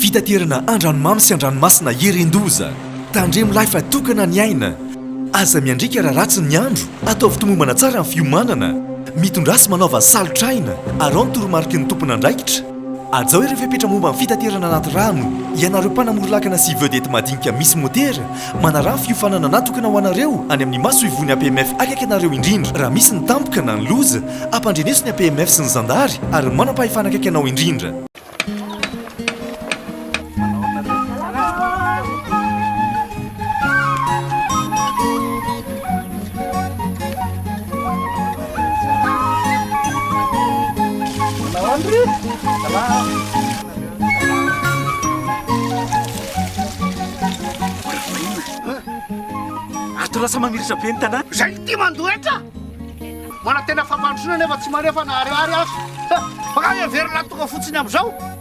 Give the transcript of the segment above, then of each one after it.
Fitaterana andranomamy sy andranomasina irin-doza. Tandremo lahy fa tokana ny aina. Aza miandriaka raha ratsy ny andro. Ataovy tomombana tsara ny fiomanana. Mitondrasy manaova salotr'aina. Araho ny toromariky ny tompon'andraikitra. Hajao ireo fepetra momba ny fitaterana anaty rano, ianareo mpanamory lakana sy vedette madinika misy motera, manaraha ny fiofanana natokana ho anareo any amin'ny masoivohon'ny APMF akaiky anareo indrindra raha misy ny tampoka na ny loza, ampandreneso ny APMF sy ny zandary ary ny manam-pahefana akaiky anao indrindra. lasa mamirisa be ny tanàna zay ty mandoetra manantena fampandrosoana nefa tsy manefa na ariary azo fa ka heverina tonga fotsiny am'izao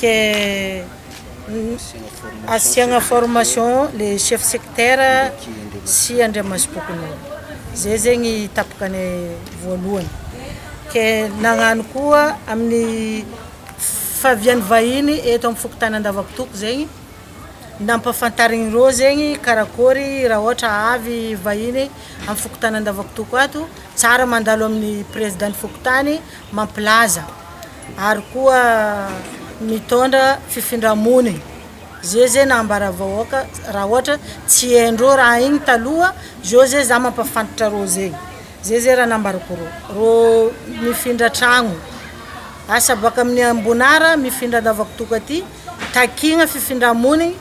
Ke asiagna formation le chef secteur sy andriamasom-pokonolona zay zegny tapaka ny voalohany ke nagnano koa amin'ny fahavian'ny vahiny eto amin'ny fokontany Andavakotoky zegny nampahafantariny ireo zegny karakôry raha ohatra avy vahiny amin'ny fokontany Andavakotoky ato tsara mandalo amin'ny prezidan'ny fokontany mampilaza ary koa mitondra fifindra-mony ze ze na ambara vahoaka raha ohatra tsy hain-dreo raha igny taloha zeo ze za mampafantatra reo ze ze ze raha nambarako reo reo mifindra tragno asa baka amin'ny ambonara mifindra andavakotoka aty takigna fifindra-monigny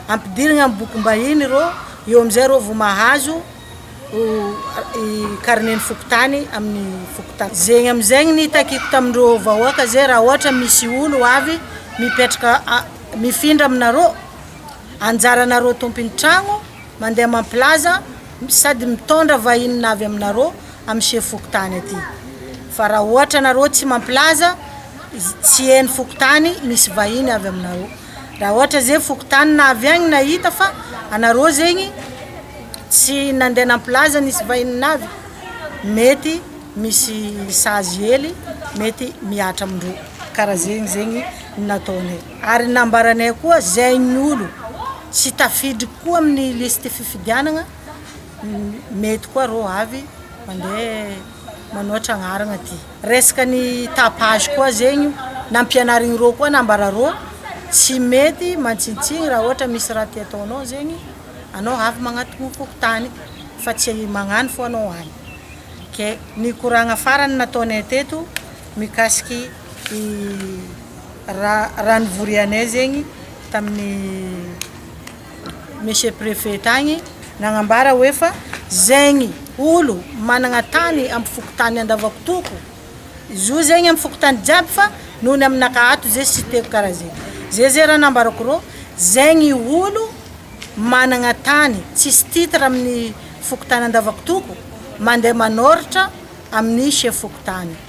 ampidirigna amin'ny bokim-bahiny reo eo amizay reo vao mahazo ho carnet ny fokontany amin'ny fokontany zegny amizegny ny itakiko tamin'ireo vahoaka zay raha ohatra misy olo ho avy mipetraka mifindra aminareo anjaranareo tompony tragno mandeha mampilaza sady mitondra vahinina avy aminareo amin'ny chef fokontany aty fa raha ohatra anareo tsy mampilaza tsy heno fokontany misy vahiny avy aminareo Raha ohatra zegny fokontany na avy agny nahita fa anareo zegny tsy nandeha nampilaza nisy vahiny navy mety misy sazy hely mety mihatra amin-drô karaha zegny zegny nataonay ary nambaranay koa zay ny olo tsy tafiditry koa amin'ny listy fifidianagna mety koa rô avy mandeha manoatra agnarana aty. Resaka ny tapage koa zegny io nampianarigny rô koa nambara rô tsy mety mantsintsiny raha ohatra misy raha tia ataonao zegny anao avy magnatogno fokontany fa tsy magnano fô anao any ke nikoragna farany nataonay teto mikasiky raha raha nivorianay zegny tamin'ny Monsieur Prefet tagny nagnambara hoe fa zegny olo managna tany am fokontany Andavakotoko zo zegny am fokontany jiaby fa noho ny aminakahy ato ze tsy teo kara ze ze ze raha nambarako rô zegny olo managna tany tsisy titre aminy fokontany Andavakotoko mande manôratra aminy chef fokontany.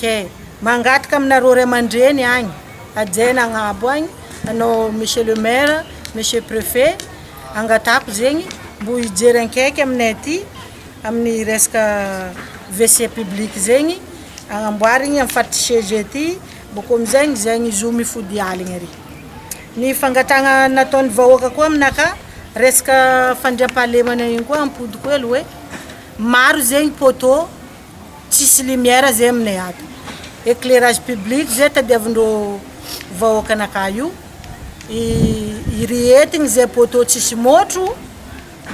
Ke. Mangataka aminareo ray aman-dreny agny hajaina agnabo agny anao monsieur le maire, monsieur prefet, angatahako zegny mbo hijery ankaiky aminay aty amin'ny resaka WC public zegny agnamboarigny amin'ny faritry CEG aty boko amin'izegny zegny zo mifody aligny ary. Ny fangatahagna nataon'ny vahoaka koa aminakahy resaka fandriampahalemana igny koa ampodiko hely hoe maro zegny poteau. Tsisy lumière zay aminay ato. Éclairage public zay tadiavindreo vahoaka nakà io. Irehetigny zay poteau tsisy môtro.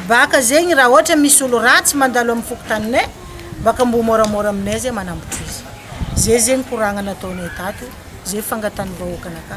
Baka zegny raha ohatra misy olo ratsy mandalo amin'ny fokontaninay, baka mbo môramôra aminay zay manambotry izy. Zay zegny koragna nataonay tato, zay fangatahan'ny vahoaka nakà.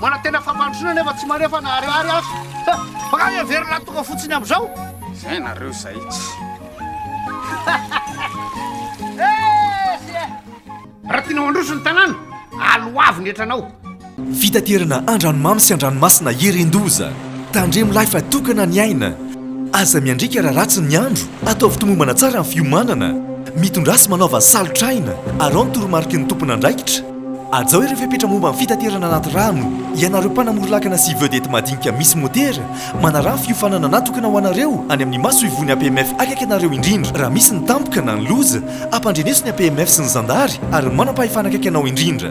Manantena fampandrosoana nefa tsy manefa na ariary aza. Bakany heverina tonga fotsiny amizao. Zay nareo zay tsy. Raha tianao handroso ny tanàna, aloavy ny hetranao. Fitaterana andranomamy sy andranomasina irin-doza. Tandremo lahy fa tokana ny aina. Aza miandriaka raha ratsy ny andro. Ataovy tomombana tsara ny fiomanana. Mitondrasy manaova salotr'aina. Arao ny toromariky ny tompon'andraikitra. Hajao ireo fepetra momba ny fitaterana anaty rano, ianareo mpanamory lakana sy vedette madinika misy motera, manaraha ny fiofanana natokana ho anareo any amin'ny masoivohon'ny APMF akaiky anareo indrindra raha misy ny tampoka na ny loza, ampandreneso ny APMF sy ny zandary ary ny manam-pahefana akaiky anao indrindra.